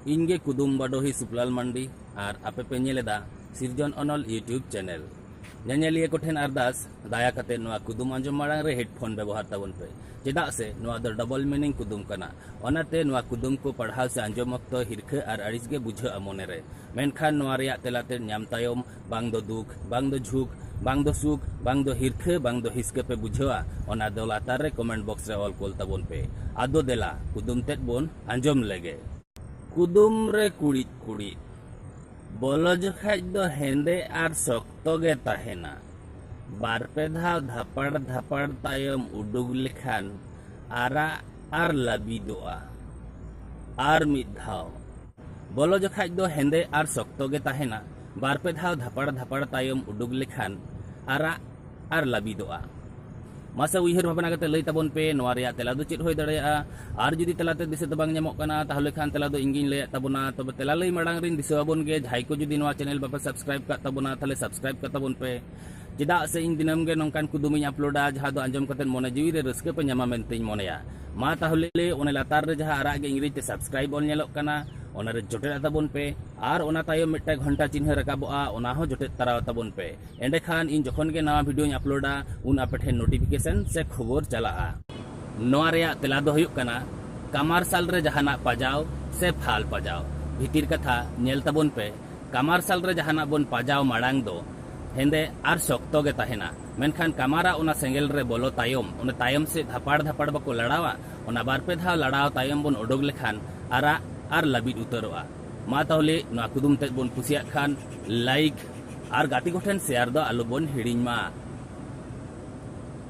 ᱤᱧᱜᱮ ᱠᱩᱫᱩᱢ ᱵᱟᱰᱚᱦᱤ ᱥᱩᱯᱞᱟᱞ ᱢᱟᱱᱰᱤ ᱟᱨ ᱟᱯᱮ ᱯᱮ ᱧᱮᱞ ᱮᱫᱟ ᱥᱤᱨᱡᱚᱱ ᱚᱱᱚᱞ ᱤᱭᱩᱴᱤᱭᱩᱵᱽ ᱪᱮᱱᱮᱞ ᱧᱮᱧᱮᱞᱤᱭᱟᱹ ᱠᱚᱴᱷᱮᱱ ᱟᱨᱫᱟᱥ ᱫᱟᱭᱟ ᱠᱟᱛᱮ ᱱᱚᱣᱟ ᱠᱩᱫᱩᱢ ᱟᱸᱡᱚᱢ ᱢᱟᱲᱟᱝ ᱨᱮ ᱦᱮᱰᱯᱷᱳᱱ ᱵᱮᱵᱚᱦᱟᱨ ᱛᱟᱵᱚᱱ ᱯᱮ ᱪᱮᱫᱟᱜ ᱥᱮ ᱱᱚᱣᱟ ᱫᱚ ᱰᱚᱵᱚᱞ ᱢᱤᱱᱤᱝ ᱠᱩᱫᱩᱢ ᱠᱟᱱᱟ ᱚᱱᱟᱛᱮ ᱱᱚᱣᱟ ᱠᱩᱫᱩᱢ ᱠᱚ ᱯᱟᱲᱦᱟᱣ ᱥᱮ ᱟᱸᱡᱚᱢ ᱚᱠᱛᱚ ᱦᱤᱨᱠᱷᱟᱹ ᱟᱨ ᱟᱹᱲᱤᱥ ᱜᱮ ᱵᱩᱡᱷᱟᱹᱜᱼᱟ ᱢᱚᱱᱮ ᱨᱮ ᱢᱮᱱᱠᱷᱟᱱ ᱱᱚᱣᱟ ᱨᱮᱭᱟᱜ ᱛᱮᱞᱟ ᱛᱮᱫ ᱧᱟᱢ ᱛᱟᱭᱚᱢ ᱵᱟᱝ ᱫᱚ ᱫᱩᱠ ᱵᱟᱝ ᱫᱚ ᱡᱷᱩᱠ ᱵᱟᱝ ᱫᱚ ᱥᱩᱠ ᱵᱟᱝ ᱫᱚ ᱦᱤᱨᱠᱷᱟᱹ ᱵᱟᱝ ᱫᱚ ᱦᱤᱥᱠᱟᱹ ᱯᱮ ᱵᱩᱡᱷᱟᱹᱣᱟ ᱚᱱᱟ ᱫᱚ ᱞᱟᱛᱟᱨ ᱨᱮ ᱠᱚᱢᱮᱱᱴ ᱵᱚᱠᱥ ᱨᱮ ᱚᱞ ᱠᱳᱞ ᱛᱟᱵᱚᱱ ᱯᱮ ᱟᱫᱚ ᱫᱮᱞᱟ ᱠᱩᱫᱩᱢ ᱛᱮᱫ ᱵᱚᱱ ᱟᱸᱡᱚᱢ ᱞᱮᱜᱮ ᱠᱩᱫᱩᱢ ᱨᱮ ᱠᱩᱲᱤᱫ ᱠᱩᱲᱤᱫ ᱵᱚᱞᱚ ᱡᱚᱠᱷᱟᱡ ᱫᱚ ᱦᱮᱸᱫᱮ ᱟᱨ ᱥᱚᱠᱛᱚ ᱜᱮ ᱛᱟᱦᱮᱱᱟ ᱵᱟᱨ ᱯᱮ ᱫᱷᱟᱣ ᱫᱷᱟᱯᱟᱲ ᱫᱷᱟᱯᱟᱲ ᱛᱟᱭᱚᱢ ᱩᱰᱩᱠ ᱞᱮᱠᱷᱟᱱ ᱟᱨᱟᱜ ᱟᱨ ᱞᱟᱹᱵᱤᱫᱚᱜᱼᱟ ᱟᱨ ᱢᱤᱫ ᱫᱷᱟᱣ ᱵᱚᱞᱚ ᱡᱚᱠᱷᱟᱡ ᱫᱚ ᱦᱮᱸᱫᱮ ᱟᱨ ᱥᱚᱠᱛᱚ ᱜᱮ ᱛᱟᱦᱮᱱᱟ ᱵᱟᱨ ᱯᱮ ᱫᱷᱟᱣ ᱫᱷᱟᱯᱟᱲ ᱫᱷᱟᱯᱟᱲ ᱛᱟᱭᱚᱢ ᱩᱰᱩᱠ ᱞᱮᱠᱷᱟᱱ ᱟᱨᱟᱜ ᱟᱨ ᱞᱟᱹᱵᱤᱫᱚᱜᱼᱟ ᱢᱟᱥᱮ ᱩᱭᱦᱟᱹᱨ ᱵᱷᱟᱵᱽᱱᱟ ᱠᱟᱛᱮ ᱞᱟᱹᱭ ᱛᱟᱵᱚᱱ ᱯᱮ ᱱᱚᱣᱟ ᱨᱮᱭᱟᱜ ᱛᱮᱞᱟ ᱫᱚ ᱪᱮᱫ ᱦᱩᱭ ᱫᱟᱲᱮᱭᱟᱜᱼᱟ ᱟᱨ ᱡᱩᱫᱤ ᱛᱮᱞᱟᱛᱮ ᱫᱤᱥᱟᱹ ᱫᱚ ᱵᱟᱝ ᱧᱟᱢᱚᱜ ᱠᱟᱱᱟ ᱛᱟᱦᱚᱞᱮ ᱠᱷᱟᱱ ᱛᱮᱞᱟ ᱫᱚ ᱤᱧᱜᱤᱧ ᱞᱟᱹᱭᱟᱫ ᱛᱟᱵᱚᱱᱟ ᱛᱚᱵᱮ ᱛᱮᱞᱟ ᱞᱟᱹᱭ ᱢᱟᱲᱟᱝ ᱨᱤᱧ ᱫᱤᱥᱟᱹ ᱟᱵᱚᱱ ᱜᱮ ᱡᱟᱦᱟᱸᱭ ᱠᱚ ᱡᱩᱫᱤ ᱱᱚᱣᱟ ᱪᱮᱱᱮᱞ ᱵᱟᱯᱮ ᱥᱟᱵᱥᱠᱨᱟᱭᱤᱵ ᱠᱟᱜ ᱛᱟᱵᱚᱱᱟ ᱛᱟᱦᱚᱞᱮ ᱥᱟᱵᱥᱠᱨᱟᱭᱤᱵ ᱠᱟᱜ ᱛᱟᱵᱚᱱ ᱯᱮ ᱪᱮᱫᱟᱜ ᱥᱮ ᱤᱧ ᱫᱤᱱᱟᱹᱢ ᱜᱮ ᱱᱚᱝᱠᱟᱱ ᱠᱩᱫᱩᱢ ᱤᱧ ᱟᱯᱞᱳᱰᱟ ᱡᱟᱦᱟᱸ ᱫᱚ ᱟᱸᱡᱚᱢ ᱠᱟᱛᱮ ᱢᱚᱱᱮ ᱡᱤᱣᱤ ᱨᱮ ᱨᱟᱹᱥᱠᱟᱹ ᱯᱮ ᱧᱟᱢᱟ ᱢᱮᱱᱛᱮᱧ ᱢᱚᱱᱮᱭᱟ ᱢᱟ ᱛᱟᱦᱚᱞᱮ ᱚᱱᱟ ᱞᱟᱛᱟᱨ ᱨᱮ ᱡᱟᱦᱟᱸ ᱟᱨᱟᱜ ᱜᱮ ᱤᱝᱨᱮᱡᱤ ᱛᱮ ᱥᱟᱵᱥᱠᱨᱟᱭᱤᱵ ᱚᱞ ᱧᱮᱞᱚᱜ ᱠᱟᱱᱟ ᱚᱱᱟ ᱨᱮ ᱡᱚᱴᱮᱫ ᱛᱟᱵᱚᱱ ᱯᱮ ᱟᱨ ᱚᱱᱟ ᱛᱟᱭᱚᱢ ᱢᱤᱫᱴᱟᱝ ᱜᱷᱚᱱᱴᱟ ᱪᱤᱱᱦᱟᱹ ᱨᱟᱠᱟᱵᱚᱜᱼᱟ ᱚᱱᱟ ᱦᱚᱸ ᱡᱚᱴᱮᱫ ᱛᱟᱨᱟᱣ ᱛᱟᱵᱚᱱ ᱯᱮ ᱮᱸᱰᱮᱠᱷᱟᱱ ᱤᱧ ᱡᱚᱠᱷᱚᱱ ᱜᱮ ᱱᱟᱣᱟ ᱵᱷᱤᱰᱤᱭᱳᱧ ᱟᱯᱞᱳᱰᱟ ᱩᱱ ᱟᱯᱮ ᱴᱷᱮᱱ ᱱᱳᱴᱤᱯᱷᱤᱠᱮᱥᱚᱱ ᱥᱮ ᱠᱷᱚᱵᱚᱨ ᱪᱟᱞᱟᱜᱼᱟ ᱱᱚᱣᱟ ᱨᱮᱭᱟᱜ ᱛᱮᱞᱟ ᱫᱚ ᱦᱩᱭᱩᱜ ᱠᱟᱱᱟ ᱠᱟᱢᱟᱨᱥᱟᱞ ᱨᱮ ᱡᱟᱦᱟᱱᱟᱜ ᱯᱟᱡᱟᱣ ᱥᱮ ᱯᱷᱟᱞ ᱯᱟᱡᱟᱣ ᱵᱷᱤᱛᱤᱨ ᱠᱟᱛᱷᱟ ᱧᱮᱞ ᱛᱟᱵᱚᱱ ᱯᱮ ᱠᱟᱢᱟᱨᱥᱟᱞ ᱨᱮ ᱡᱟᱦᱟᱱᱟᱜ ᱵᱚᱱ ᱯᱟᱡᱟᱣ ᱢᱟᱲᱟᱝ ᱫᱚ ᱦᱮᱸᱫᱮ ᱟᱨ ᱥᱚᱠᱛᱚ ᱜᱮ ᱛᱟᱦᱮᱱᱟ ᱢᱮᱱᱠᱷᱟᱱ ᱠᱟᱢᱟᱨᱟ ᱚᱱᱟ ᱥᱮᱸᱜᱮᱞ ᱨᱮ ᱵᱚᱞᱚ ᱛᱟᱭᱚᱢ ᱚᱱᱟ ᱛᱟᱭᱚᱢ ᱥᱮᱫ ᱫᱷᱟᱯᱟᱲ ᱫᱷᱟᱯᱟᱲ ᱵᱟᱠᱚ ᱞᱟᱲᱟᱣᱟ ᱚᱱᱟ ᱵᱟᱨ ᱯᱮ ᱫᱷᱟᱣ ᱞᱟᱲᱟᱣ ᱛᱟᱭᱚᱢ ᱵᱚᱱ ᱚᱰᱚᱠ ᱞᱮᱠᱷᱟᱱ ᱟᱨᱟᱜ ᱟᱨ ᱞᱟᱹᱵᱤᱫ ᱩᱛᱟᱹᱨᱚᱜᱼᱟ ᱢᱟ ᱛᱟᱦᱚᱞᱮ ᱱᱚᱣᱟ ᱠᱩᱫᱩᱢ ᱛᱮᱫ ᱵᱚᱱ ᱠᱩᱥᱤᱭᱟᱜ ᱠᱷᱟᱱ ᱞᱟᱭᱤᱠ ᱟᱨ ᱜᱟᱛᱮ ᱠᱚᱴᱷᱮᱱ ᱥᱮᱭᱟᱨ ᱫᱚ ᱟᱞᱚ ᱵᱚᱱ ᱦᱤᱲᱤᱧ ᱢᱟ